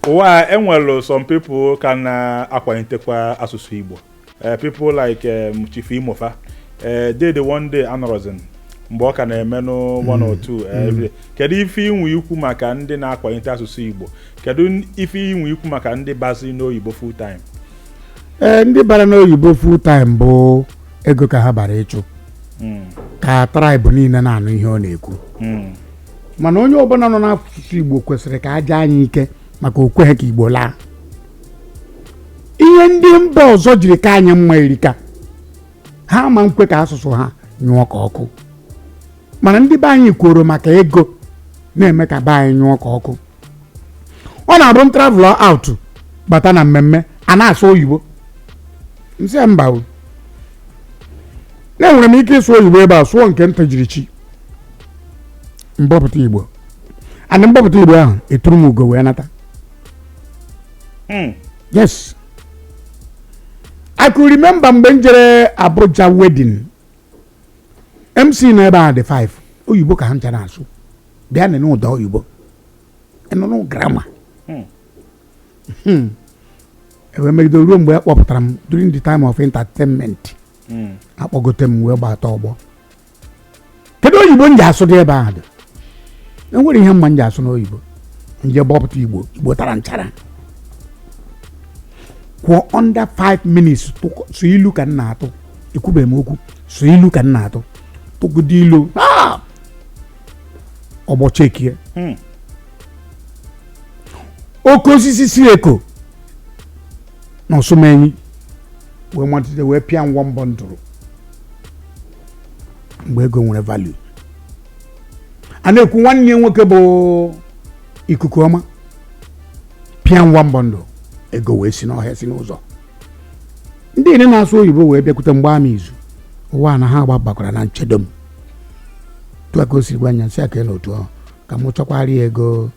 ụwa enwere some people ka na-akwalitekwa asụsụ Igbo eh, people like um, Chief Imo fa eh, Dede One Day anọrọzi mgbe ọ ka na-emenụ one or two kedu ife i nwe ikwu maka ndị na-akwalite asụsụ Igbo kedu ife i nwe ikwu maka ndị bazi n'oyibo full time ee eh, ndị bara n'oyibo full time bụ ego ka ha bara ịchụ hmm. ka tribe niile na-anụ ihe ọ na-ekwu hmm. mana onye ọbụla nọ n'asụsụ igbo kwesịrị ka a jaa anyị ike maka o kweghị ka igbo laa ihe ndị mba ọzọ jiri ka anyị mma erika ha ma nkwe ka asụsụ ha nyụọ ka ọkụ mana ndị be anyị kworo maka ego na-eme ka be anyị nyụọ ka ọkụ ọ na-abụ m travel out bata na mmemme a na-asụ oyibo nsị ya mba o na enwere m ike ịsụ oyibo ebe a sụọ nke ntị jiri chi m bọpụta igbo and m bọpụta igbo ahụ eturu m ugo wee nata yes i could remember mgbe m jere abuja wedding mc nọ ebe a dị 5 oyibo ka ha ncha na-asụ bịa nụ ụda oyibo ịnụnụ grammar hmm. hmm. e wee megide ruo mgbe a kpọpụtara m during the time of entertainment hmm. akpọgote m wee gbata ọgbọ kedu oyibo m ji asụ dị ebe ahụ dị enwere ihe m ma m ji asụ n'oyibo m je bọpụta igbo igbo tara nchara kwuo under 5 minutes sọ ilu ka m na-atụ ekwubeghị m okwu sọ ilu ka m na-atụ tụgide ilu ọgbọ chekie hmm. oke osisi si eko na ọsụmenyi wee matite wee pịawa m bundle mgbe ego nwere value a na-ekwu nwanne ya nwoke bụ ikuku ọma pịawa m bundle ego wee si n'ọhịa si n'ụzọ ndị niile na-asụ oyibo wee bịakwute m gbaa m izu ụwa na ha gbabakwara na nchedo m tụa ka o si gwa anya si aka na otu ahụ ka m chọkwara ya ego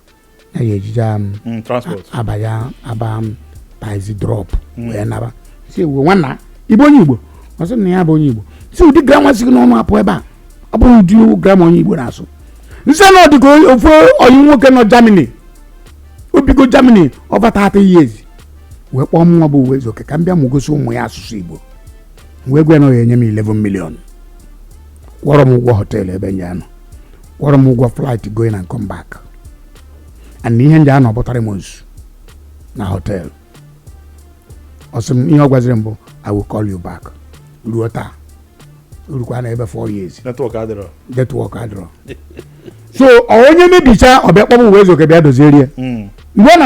ya ya ejije m Mm, transport abalị aba m taxi drop wee naba si ewu nwanna ị bụ onye igbo ọ sị na ya bụ onye igbo si ụdị grammar si gị n'ọnụ apụ ebe a ọ bụrụ ụdị grammar onye igbo na-asụ nsị na ọ dịka ofu oyi nwoke nọ germany o bigo germany over 30 years wee kpọọ mụnwa bụ uwaezuoke ka m bịa mụ gosi ụmụ ya asụsụ igbo wee gwa ya na ọ ga-enye m 11 million kwụọrọ m ụgwọ hotel ebe m je-anọ kwụọrọ m ụgwọ flight going and come back and ihe m je-anọ bụ 3 months na hotel ọ sị m ihe ọ gwaziri m bụ i will call you back ruo taa o rukwana ebe 4 years network adịrọ network adịrọ so onye mebichaa ọ bịa kpọọ m uwaezuoke bịa doziere mgbe ọ na